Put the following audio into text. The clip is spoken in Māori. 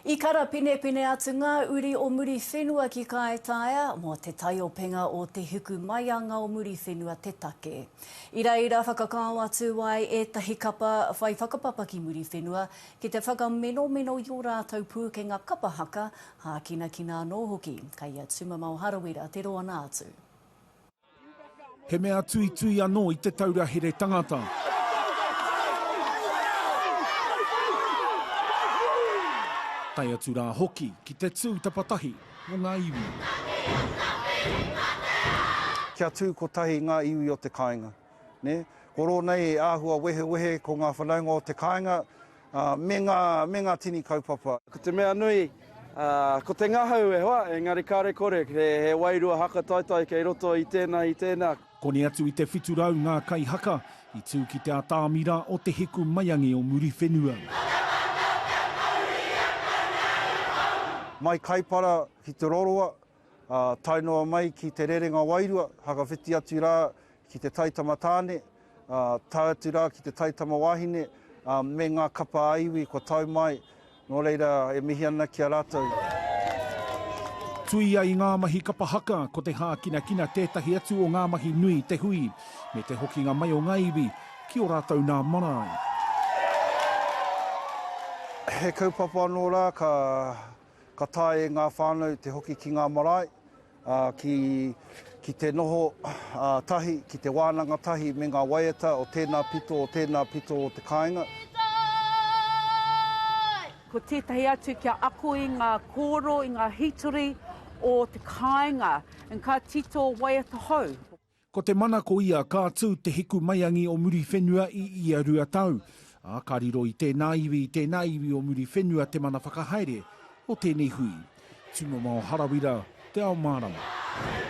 I karapinepine atu ngā uri o Muriwhenua ki Kāetaia mō te taiopenga o Te Hiku Maianga o Muriwhenua te take. I reira whakakao atu ai ētahi kapa whai whakapapa ki Muriwhenua ki te whakamenomeno i ō rātou pūkenga kapa haka, hākinakina anō hoki. Kei a Tumamao Harawira te roanga atu. He mea tuitui anō i te taura here tangata. Tae atu rā hoki ki te tū tapatahi mō ngā iwi. Kia tū kotahi ngā iwi o te kāinga. Ko rōnei e āhua wehewehe ko ngā whanaunga o te kāinga. me ngā, me ngā tini kaupapa. Ko te mea nui, ko te ngahau e hoa, engari kāre kore, he, he wairua haka taitai kei roto i tēnā, i tēnā. Koni atu i te whitu rau ngā kaihaka i tū ki te atāmira o Te Hiku Maiangi o Muriwhenua. Mai Kaipara ki Te Roroa, Ā, tae noa mai ki Te Rerenga Wairua, whakawhiti atu rā ki te taitama tāne, ā, tae atu rā ki te taitama wāhine, ā, me ngā kapa ā iwi kua tau mai, nō reira e mihi ana ki a rātou. Tuia i ngā mahi kapa haka, ko te hākinakina tētahi atu o ngā mahi nui i te hui, me te hokinga mai o ngā iwi ki ō rātou nā marae. He kaupapa anō rā ka Ka taea e ngā whānau te hoki ki ngā marae, ki te noho tahi, ki te wānanga tahi me ngā waiata o tēnā pito, o tēnā pito o te kāinga. Ko tētahi atu kia ako i ngā kōrero, i ngā hītori o te kāinga, ka tito waiata hou. Ko te mana ko ia ka tū te hiku maiangi o Muriwhenua i ia rua tau, ā, ka riro i tēnā iwi, i tēnā iwi o Muriwhenua te mana whakahaere o tēnei hui. Tūmamao Harawira, Te Ao Mārama.